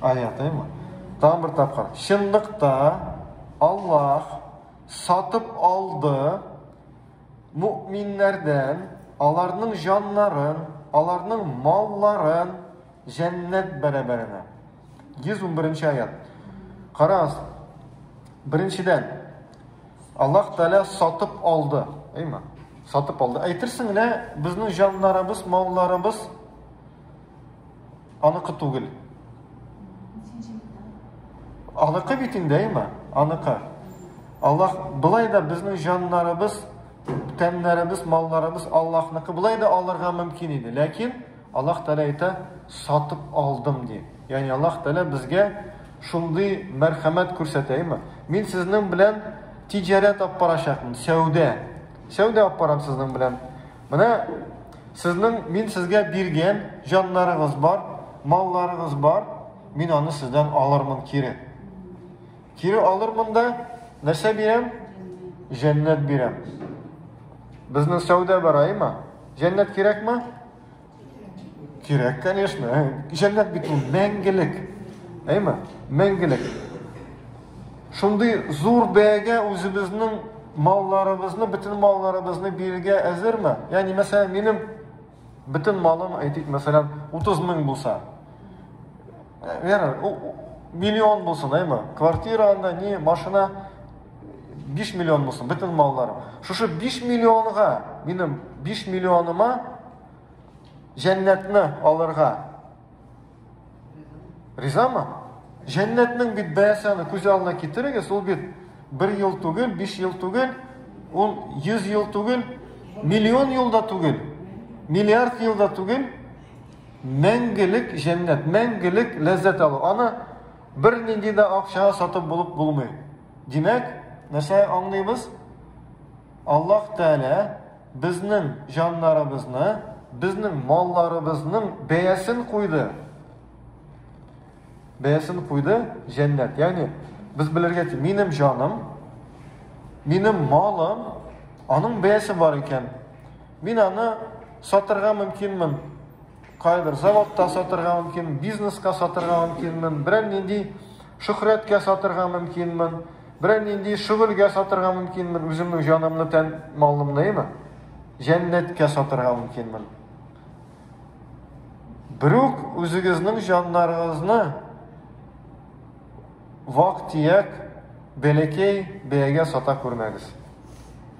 Аятыймы? Тагын бер тапкыр. Чынлыкта Аллаһ сатып алды мукминнәрдән аларның җаннарын, аларның малларын җәннәт бәрабәренә. 111 нче аят. Карагыз. Беренчедән Аллаһ Тәгалә сатып алды, әйме? Сатып алды. Әйтерсең генә безнең җаннарыбыз, малларыбыз аныкы түгел. Аныкы бит инде, әйме? Аныкы. Аллаһ былай да безнең җаннарыбыз, тәннәребез, малларыбыз Аллаһныкы. Былай да алырга мөмкин иде. Ләкин Аллаһ Тәгалә әйтә, Сатып алдым, ди. Ягъни Аллаһ Тәгалә безгә шундый мәрхәмәт күрсәтә, әйеме? Мин сезнең белән тиҗарәт алып барачакмын, сәүдә. Сәүдә алып барам сезнең белән. Менә сезнең мин сезгә биргән җаннарыгыз бар, малларыгыз бар, мин аны сездән алырмын кире. Кире алырмын да нәрсә бирәм? Җәннәт бирәм. Безнең сәүдә бар, әйеме? Җәннәт кирәкме? Кирәк, конечно. Җәннәт бит ул мәңгелек. Әйме? Мәңгелек. Шундый зур бәягә үзебезнең малларыбызны, бөтен малларыбызны бирергә әзерме? Ягъни, мәсәлән, минем бөтен малым, әйтик, мәсәлән, 30 мең булса. Вера, миллион булсын, әйме? Квартира анда, не, машина, 5 миллион булсын, бөтен малларым. Шушы 5 миллионга, минем 5 миллионыма җәннәтне алырга. Ризамы? Җәннәтнең бит бәясе аны күз алдына китерегез, ул бит 1 ел түгел, 5 ел түгел, ул 100 ел түгел, миллион елда түгел, миллиард елда түгел, мәңгелек җәннәт, мәңгелек ләззәт алу. Аны Бернинди дә акчага сатып булып булмый. Димәк, нәрсә аңлыйбыз? Аллаһ Тәгалә безнең җаннарыбызны, безнең малларыбызның бәясен куйды. Бәясен куйды җәннәт. Ягъни без белергә тиеш, минем җаным, минем малым, аның бәясе бар икән. Мин аны сатырга мөмкинмен, Кайбер заводта сатырга мөмкин, бизнеска сатырга мөмкинмен, берәр нинди шөхрәткә сатырга мөмкинмен, берәр нинди шөгыльгә сатырга мөмкинмен, үземнең җанымны, тән, малымны, имә, җәннәткә сатырга мөмкинмен. Берүк үзегезнең җаннарыгызны вак-тияк бәләкәй бәягә сата күрмәгез.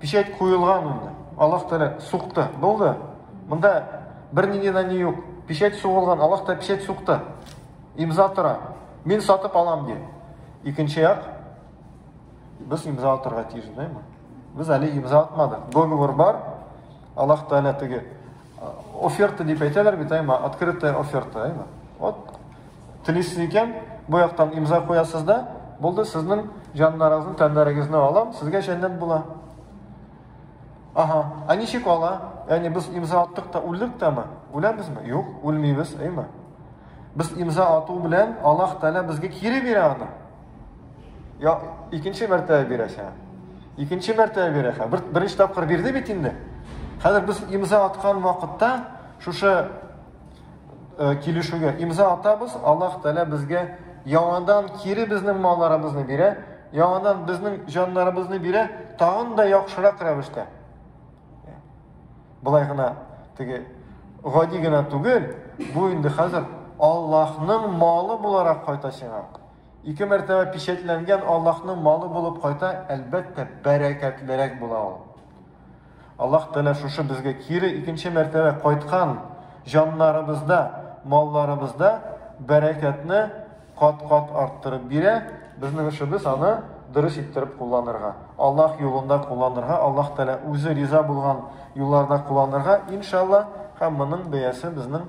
Печать куелган инде. Аллаһ Тәгалә сукты. Булды. Монда бернинди дә ни юк. Печать сугылган, Аллаһ та печать сукты. Имза тора. Мин сатып алам ди. Икенче як без имза атырга тиеш, дәйме? Без әле имза атмадык. Договор бар. Аллаһ Тәгалә теге Оферта дип әйтәләр бит, әйма, открытая оферта, әйма. Вот, телисез икән, бу яктан имза куясыз да, булды, сезнең җаннарыгызны, тәннәрегезне алам, сезгә җәннәт була. Ага, а ничек ала? Яни без имза аттык та үлдек тәме? Үләбезме? Юк, үлмибез, әйма. Без имза ату белән Аллаһ Тәгалә безгә кире бирә аны. Я, икенче мәртәбә бирәсә. Икенче мәртәбә бирәсә. Бер, беренче тапкыр бирде бит инде. Хәзер без имза аткан вакытта шушы э, килешүгә имза атабыз, Аллаһ Тәгалә безгә яңадан кире безнең малларыбызны бирә, яңадан безнең җаннарыбызны бирә, тагын да яхшырак рәвештә. Былай гына теге гади генә түгел, бу инде хәзер Аллаһның малы буларак кайта сиңа. Ике мәртәбә пичәтләнгән Аллаһның малы булып кайта, әлбәттә, бәрәкәтлерәк була ул. Аллаһ Тәгалә шушы безгә кире икенче мәртәбә кайткан җаннарыбызда, малларыбызда бәрәкәтне кат-кат арттырып бирә. Безнең эшебез аны дөрес иттереп кулланырга, Аллаһ юлында кулланырга, Аллаһ Тәгалә үзе риза булган юлларда кулланырга, иншалла, һәм моның бәясе безнең